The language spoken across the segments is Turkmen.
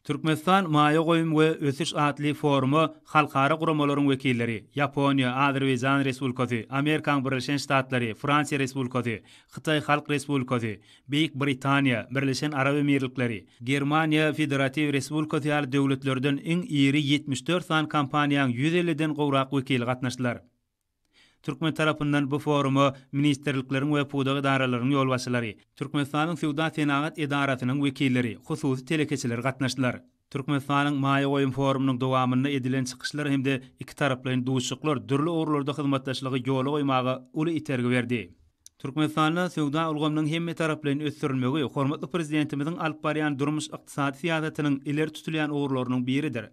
Türkmenistan maýa goýum we ösüş atly foruma halkara guramalaryň wekilleri, Ýaponiýa, Azerbaýjan Respublikasy, Amerikaň Birleşen Ştatlary, Fransiýa Respublikasy, Hytaý Halk Respublikasy, Beýik Britaniýa, Birleşen Arap Emirlikleri, Germaniýa Federatiw Respublikasy ýaly döwletlerden iň iri ýetmiş dört sany kompaniýaň ýüz elliden gowrak wekili gatnaşdylar. Türkmen tarapyndan bu foruma ministrlikleriň we pudak edaralarynyň ýolbaşçylary, Türkmenistanyň Söwda-senagat edarasynyň wekilleri, hususy telekeçiler gatnaşdylar. Türkmenistanyň Maýa goýum forumynyň dowamynda edilen çykyşlar hem-de ikitaraplaýyn duşuşyklar dürli ugurlarda hyzmatdaşlygy ýola goýmaga uly itergi berdi. Türkmenistanda söwda ulgamynyň hemmetaraplaýyn ösdürilmegi hormatly Prezidentimiziň alyp barýan durmuş-ykdysady syýasatynyň ileri tutulýan ugurlarynyň biridir.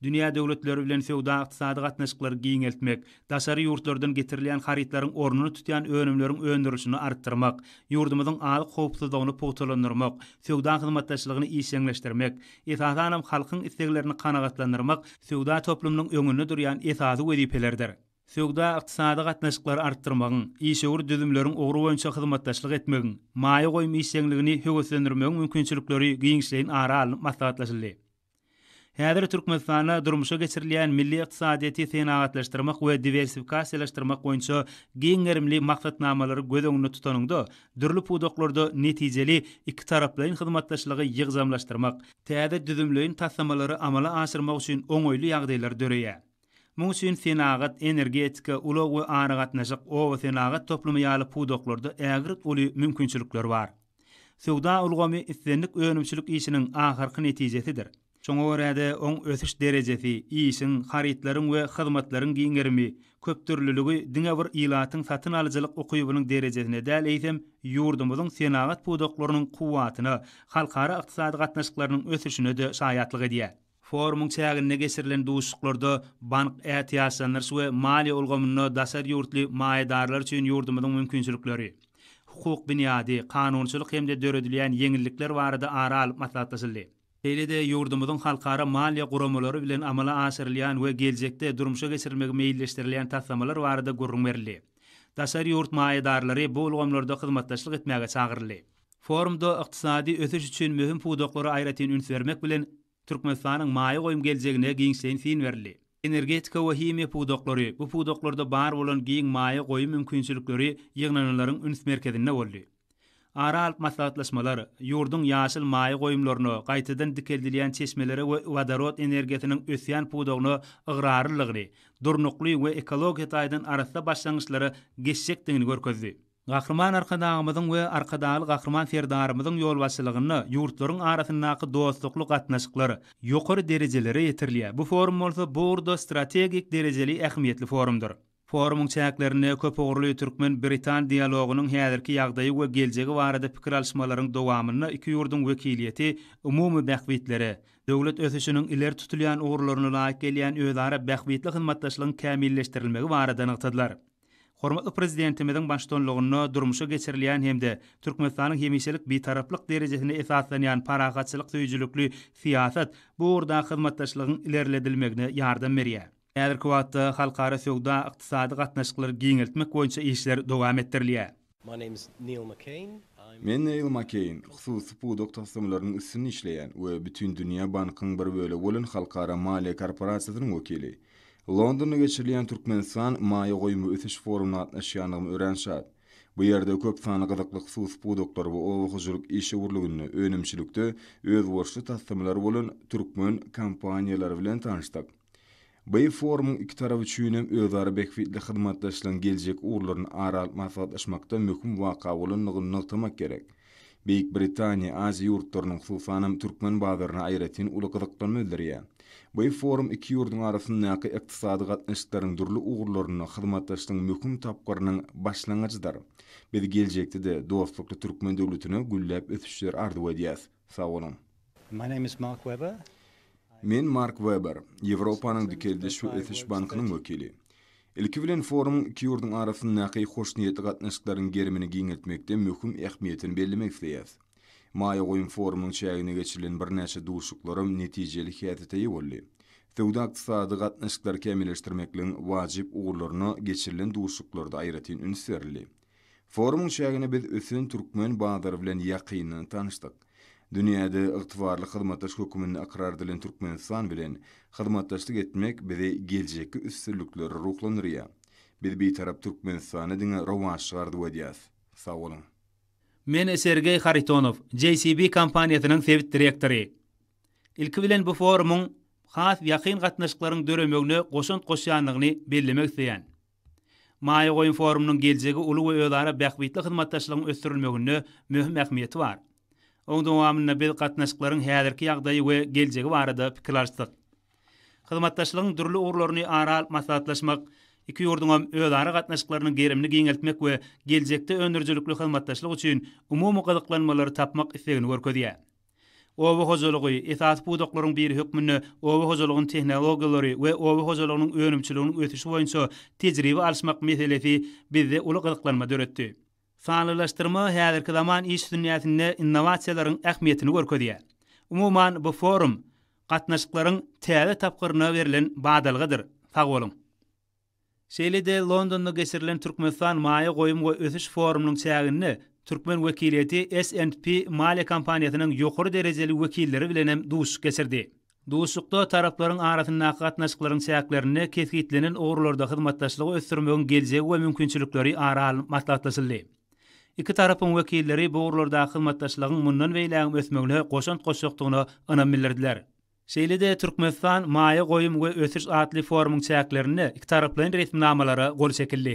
Dünýä döwletleri bilen söwda-ykdysady gatnaşyklary giňeltmek, daşary ýurtlardan getirilýän harytlaryň ornuny tutýan önümleriň öndürilişini artdyrmak, ýurdumyzyň azyk howpsuzlygyny pugtalandyrmak, söwda hyzmatdaşlygyny işjeňleşdirmek, esasanam halkyň isleglerini kanagatlandyrmak söwda toplumynyň öňünde durýan esasy wezipelerdir. Söwda-ykdysady gatnaşyklary artdyrmagyň, işewür düzümleriň ugry boýunça hyzmatdaşlyk etmegiň, maýa goýum işjeňligini höweslendirmegiň mümkinçilikleri giňişleýin ara alnyp maslahatlaşyldy. Häzir Türkmenistanda durmuşa geçirilýän milli ykdysadyýeti senagatlaşdyrmak we diwersifikasiýalaşdyrmak boýunça giň gerimli maksatnamalary göz öňünde tutanyňda, dürli pudaklarda netijeli ikitaraplaýyn hyzmatdaşlygy ýygjamlaşdyrmak, täze düzümleýin taslamalary amala aşyrmak üçin oňaýly ýagdaýlar döreýär. Munuň üçin senagat, energetika, ulag we aragatnaşyk, obasenagat toplumy ýaly pudaklarda ägirt uly mümkinçilikler bar. Söwda ulgamy islendik önümçilik işiniň ahyrky netijesidir. Şoňa görä-de, oň ösüş derejesi, işiň, harytlaryň we hyzmatlaryň giň gerimi, köpdürlüligi diňe bir ilatyň satyn alyjylyk ukybynyň derejesine däl, eýsem, ýurdumyzyň senagat pudaklarynyň kuwwatyna, halkara ykdysady gatnaşyklarynyň ösüşine-de şaýatlyk edýär. Forumyň çäginde geçirilen duşuşyklarda bank ätiýaçlandyryş we maliýe ulgamynda daşary ýurtly maýadarlar üçin ýurdumyzyň mümkinçilikleri, hukuk binýady, kanunçylyk hem-de döredilýän ýeňillikler barada ara alyp maslahatlaşyldy. Şeýle-de ýurdumyzyň halkara maliýe guramalary bilen amala aşyrylýan we geljekde durmuşa geçirilmegi meýilleşdirilýän taslamalar barada gürrüň berildi. Daşary ýurt maýadarlary bu ulgamlarda hyzmatdaşlyk etmäge çagyryldy. Forumda ykdysady ösüş üçin möhüm pudaklara aýratyn üns bermek bilen, Türkmenistanyň maýa goýum geljegine giňişleýin syn berildi. Energetika we himiýa pudaklary, bu pudaklarda bar bolan giň maýa goýum mümkinçilikleri ýygnananlaryň üns merkezinde boldy. Ara alyp maslahatlaşmalar, ýurduň ýaşyl maýa goýumlaryna, gaýtadan dikeldilýän çeşmelere we wodorod energiýasynyň ösýän pudagyna ygrarlylygyny, durnukly we ekologiýa taýdan arassa başlangyçlara geçjekdigini görkezdi. Gahryman Arkadagymyzyň we Arkadagly Gahryman Serdarymyzyň ýolbaşçylygynda ýurtlaryň arasyndaky dostlukly gatnaşyklar ýokary derejelere ýetirilýär, bu forum bolsa bu ugurda strategik derejeli ähmiýetli forumdyr. Forumyň çäklerinde köpugurly türkmen-britan dialogynyň häzirki ýagdaýy we geljegi barada pikir alyşmalaryň dowamynda iki ýurduň wekiliýeti umumy bähbitlere, döwlet ösüşiniň ileri tutulýan ugurlaryna laýyk gelýän özara bähbitli hyzmatdaşlygyň kämilleşdirilmegi barada nygtadylar. Hormatly Prezidentimiziň baştutanlygynda durmuşa geçirilýän hem-de Türkmenistanyň hemişelik Bitaraplyk derejesine esaslanýan parahatçylyk söýüjilikli syýasat bu ugurdaky hyzmatdaşlygyň ilerledilmegine ýardam berýär. Häzirki wagtda halkara söwda-ykdysady gatnaşyklary giňeltmek boýunça işler dowam etdirilýär. Men Neýl Makeýn, hususy pudak taslamalarynyň üstünde işleýän we Bütindünýä bankyň bir bölegi bolan Halkara maliýe korporasiýasynyň wekili. Londonda geçirilýän Türkmenistan maýa goýum ösüş forumyna gatnaşýandygyma örän şat. Bu ýerde köp sanly gyzykly hususy pudaklar we oba hojalyk işewürliginde, önümçilikde özboluşly taslamalar bolan türkmen kompaniýalary bilen tanyşdyk. Beýik forumyň iki tarap üçin hem özara bähbitli hyzmatdaşlygyň geljek ugurlaryny ara alyp maslahatlaşmakda möhüm waka bolandygyny nygtamak gerek. Beýik Britaniýa Aziýa ýurtlarynyň, hususanam türkmen bazaryna aýratyn uly gyzyklanma bildirýär. Beýik forum iki ýurduň arasyndaky ykdysady gatnaşyklaryň dürli ugurlarynda hyzmatdaşlygyň möhüm tapgyrynyň başlangyjydyr. Biz geljekde-de dostlukly türkmen döwletine gülläp ösüşleri arzuw edýäs. Sag boluň. My name is Mark Weber. Men Mark Weber, Ýewropanyň Dikeldiş we Ösüş Bankynyň wekili. Ilki bilen forumyň iki ýurduň arasyndaky hoşniýetli gatnaşyklaryň gerimini giňeltmekde möhüm ähmiýetini bellemek isleýäs. Maýa goýum forumynyň çäginde geçirilen birnäçe duşuşyklaram netijeli häsiýete eýe boldy. Söwda-ykdysady gatnaşyklary kämilleşdirmekligiň wajyp ugurlaryna geçirilen duşuşyklarda aýratyn üns berildi. Forumyň çäginde biz ösen türkmen bazary bilen ýakyndan tanyşdyk. Dünýäde ygtybarly hyzmatdaş höküminde ykrar edilen Türkmenistan bilen hyzmatdaşlyk etmek bizi geljekki üstünliklere ruhlandyrýar. Biz Bitarap Türkmenistana diňe rowaçlyk arzuw edýäs. Sag boluň! Men Sergeý Haritonow, JCB kompaniýasynyň sebit direktory. Ilki bilen bu forumyň has ýakyn gatnaşyklaryň döremegine goşant goşýandygyny bellemek isleýän. Maýa goýum forumynyň geljegi uly we özara bähbitli hyzmatdaşlygyň ösdürilmeginde möhüm ähmiýeti bar. Oň dowamynda biz gatnaşyklaryň häzirki ýagdaýy we geljegi barada pikir alyşdyk. Hyzmatdaşlygyň dürli ugurlaryny ara alyp maslahatlaşmak iki ýurduňam özara gatnaşyklarynyň gerimini giňeltmek we geljekde öndürijilikli hyzmatdaşlyk üçin umumy gyzyklanmalary tapmak islegini görkezýär. Oba hojalygy, esasy pudaklaryň biri hökmünde oba hojalygynyň tehnologiýalary we oba hojalygynyň önümçiliginiň ösüşi boýunça tejribe alyşmak meselesi bizde uly gyzyklanma döretdi. Sanlylaşdyrma häzirki zaman iş dünýäsinde innowasiýalaryň ähmiýetini görkezýär. Umuman, bu forum, gatnaşyklaryň täze tapgyryna berlen badalgadyr. Sag boluň! Şeýle-de Londonda geçirilen Türkmenistan maýa goýum we ösüş forumynyň çäginde türkmen wekiliýeti S and P maliýe kompaniýasynyň ýokary derejeli wekilleri bilen hem duşuşyk geçirdi. Duşuşykda taraplaryň arasyndaky gatnaşyklaryň çäklerinde kesgitlenen ugurlarda hyzmatdaşlygy ösdürmegiň geljegi we mümkinçilikleri ara alnyp maslahatlaşyldy. Iki tarapyň wekilleri bu ugurlardaky hyzmatdaşlygyň mundan beýlägem ösmegine goşant goşjakdygyna ynam bildirdiler. Şeýle-de Türkmenistan, maýa goýum we ösüş atly forumyň çäklerinde ikitaraplaýyn resminamalara gol çekildi.